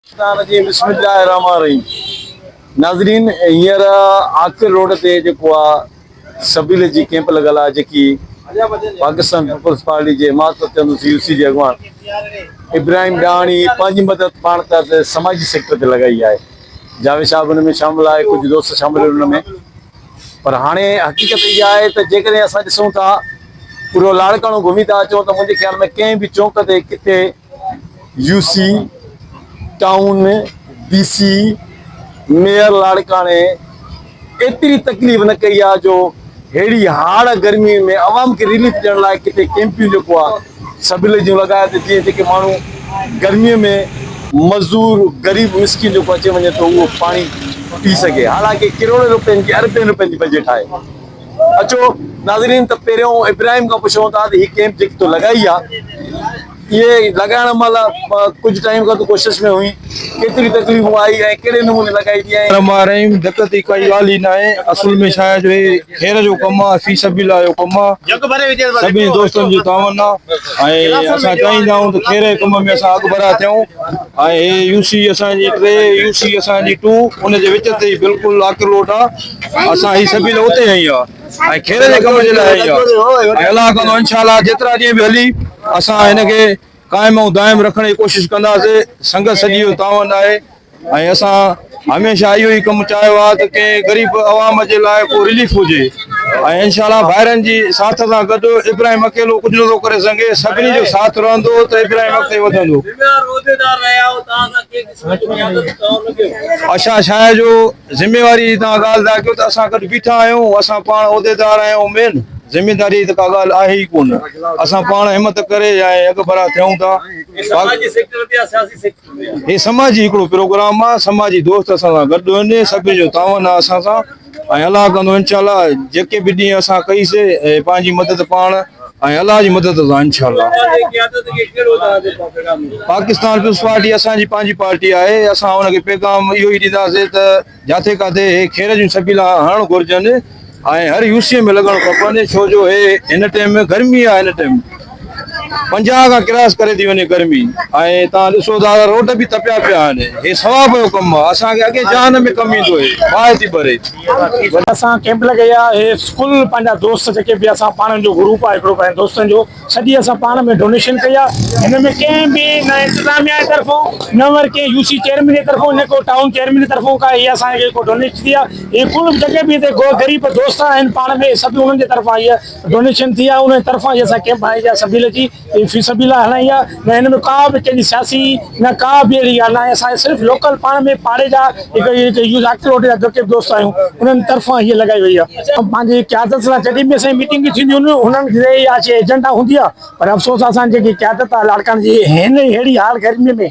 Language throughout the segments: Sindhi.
الرحمٰن الرحيم بسم الله الرحمٰن الرحيم ناظرين هينئر عاقل روڊ تي جيڪو آ سبيل جي ڪيمپ لڳل آ جيڪي پاڪستان پيپلز پارٽي جي حمايت ۾ ٿيل سي يو سي جي اڳواڻ ابراهيم ڏاهاڻي پنهنجي مدد پاڻ تحت سماجي سيڪٽر تي لڳائي آهي جاويد شاهه به ان ۾ شامل آهي ڪجهه دوست شامل ان ۾ پر هاڻي حقيقت اها آهي ته جيڪڏهن اسان ڏسون ٿا پورو لاڙڪاڻو گهمي ٿا اچون ته منهنجي خيال ۾ ڪنهن به چونڪ تي ڪٿي U C town D C mayor لاڙڪاڻي ايتري تڪليف نه ڪئي آ جو ههڙي هاڙ گرمي ۾ عوام کي رليف ڏيڻ لاء ڪٿي ڪيمپيون جيڪو آ سبلي جون لڳايا ته جيئن جيڪي ماڻهو گرمي ۾ مزور غريب مسڪين جيڪو اچي وڃي ٿو اهو پاڻي پي سگهي حالانڪه ڪروڙين روپين جي اربين روپين جي بجيٽ آهي. اچو ناظرين ته پهريون ابراهيم کان پڇون ٿا ته هي ڪيمپ جيڪي تو لڳائي آ اهي لڳائڻ مهل ڪجهه ٽائيم کان تو ڪوشش ۾ هئين ڪيتري تڪليفون آئي ۽ ڪهڙي نموني لڳائي ٿي ۽ رحمان رحيم دقت جي ڪائي ڳالهه ئي ناهي اصل ۾ ڇا آهي جو هي خير جو ڪم آهي في سبيل الله جو ڪم آهي سڀني دوستن جي تعاون آهي ۽ اسان چاهيندا آهيون ته خير جي ڪم ۾ اسان اڳڀرا ٿيون ۽ هي يو سي اسان جي ٽي يو سي اسان جي ٽو ان جي وچ تي بلڪل آڪروٽ آهي اسان هي سبيل اتي هنئي آ ۽ خير جي ڪم جي لاء هنئي آ ۽ الله ڪندو انشاء الله جيترا ڏينهن به هلي اسان هن کي قائم ۽ دائم رکڻ جي ڪوشش ڪنداسي سنگت سڄي جو تعاون آهي ۽ اسان هميشه اهو ئي ڪم چاهيو آ ته ڪنهن غريب عوام جي لاء ڪو رليف هجي ۽ انشاء الله ڀائرن جي ساٿ سان گڏ ابراهيم اڪيلو ڪجهه نه ٿو ڪري سگهي سڀني جو ساٿ رهندو ته ابراهيم اڳتي وڌندو اشا شاهه جو ذميواري جي توهان ڳالهه ٿا ڪيو ته اسان گڏ بيٺا آهيون، اسان پاڻ عهديدار آهيون امين، ذميداري جي ته ڪا ڳالهه آهي ئي ڪونه، اسان پاڻ همت ڪري ۽ اڳڀرا ٿيون ٿا، هي سماجي هڪڙو پروگرام آهي، سماجي دوست اسان سان گڏ آهن، سڀني جو تعاون آهي اسان سان ۽ الله ڪندو انشاء الله جيڪي به ڏينهن اسان ڪئي سي پنهنجي مدد پاڻ ۽ الله جي مدد سان انشاء الله پاڪستان پيپلز پارٽي اسان جي پنهنجي پارٽي آهي اسان ان کي پيغام اهو ئي ڏينداسين ته جاٿي ڪاٿي هي خير جون سبيلا هڻڻ گهرجن ۽ هر يو سي ۾ لڳڻ کپن ڇو جو هي هن ٽيم گرمي آهي هن ٽيم پنجاهه کان ڪراس ڪري ٿي وڃي گرمي ۽ تان ڏسو ٿا روڊ به تپيا پيا آهن هي ثواب جو ڪم آهي اسان کي اڳي جهان ۾ ڪم ايندو هي باهه ٿي ڀري وڏا اسان ڪيمپ لڳائي آ هي فل پنهنجا دوست جيڪي به اسان پاڻ جو گروپ آ هڪڙو پنهنجن دوستن جو سڄي اسان پاڻ ۾ ڊونيشن ڪئي آ هن ۾ ڪنهن به نه انتظاميا جي طرفون نه ور ڪنهن يو سي چيئرمين جي طرفون نه ڪو ٽائون چيئرمين جي طرفون ڪا هي اسان کي ڪو ڊونيشن ٿي آ هي فل جيڪي به هتي غريب دوست آهن پاڻ ۾ سڀ انهن جي طرفان هي ڊونيشن ٿي آ انهن جي طرفان هي اسان ڪيمپ هنيا سڀيل جي هي في سبيل الله هڻائي آ نه هن ۾ ڪا به ڪنهن جي سياسي نه ڪا به اهڙي ڳالهه ناهي اسان کي صرف لوڪل پاڻ ۾ پاڙي جا هڪ يوز اڪلوٽ جا جيڪي به دوست آهيون انهن طرفان هي لڳائي وئي آ پنهنجي قيادت سان جڏهن به اسان جي ميٽنگ به ٿينديون آهن انهن جي اها شي ايجنڊا هوندي آ پر افسوس آ اسان جي جيڪي قيادت آ لاڙڪاڻي جي هن ههڙي حال گرمي ۾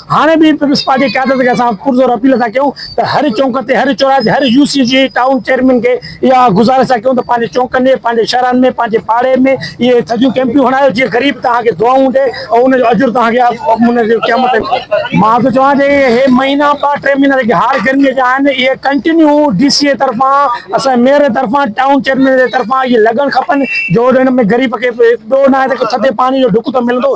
هاڻي به پيپلز پارٽي قيادت کي اسان پرزور اپيل ٿا ڪيون ته هر چونڪ تي هر چوراهي تي هر يو سي جي ٽائون چيئرمين کي اها گذارش ٿا ڪيون ته پنهنجي چونڪن ۾ پنهنجي شهرن ۾ پنهنجي پاڙي ۾ اهي ٿڌيون ڪيمپيون هڻايو جيئن غريب توهان کي دعائون ڏي ۽ ان جو اجر توهان کي ان جي قيامت تي مان ٿو چوان ته اهي مهينا ٻه ٽي مهينا جيڪي هارڊ گرمي جا آهن اهي ڪنٽينيو ڊي سي اي طرفان اسان ميئر جي طرفان ٽائون چيئرمين جي طرفان اهي لڳڻ کپن جو ان ۾ غريب کي ٻيو ناهي ته ٿڌي پاڻي جو ڍڪ ته ملندو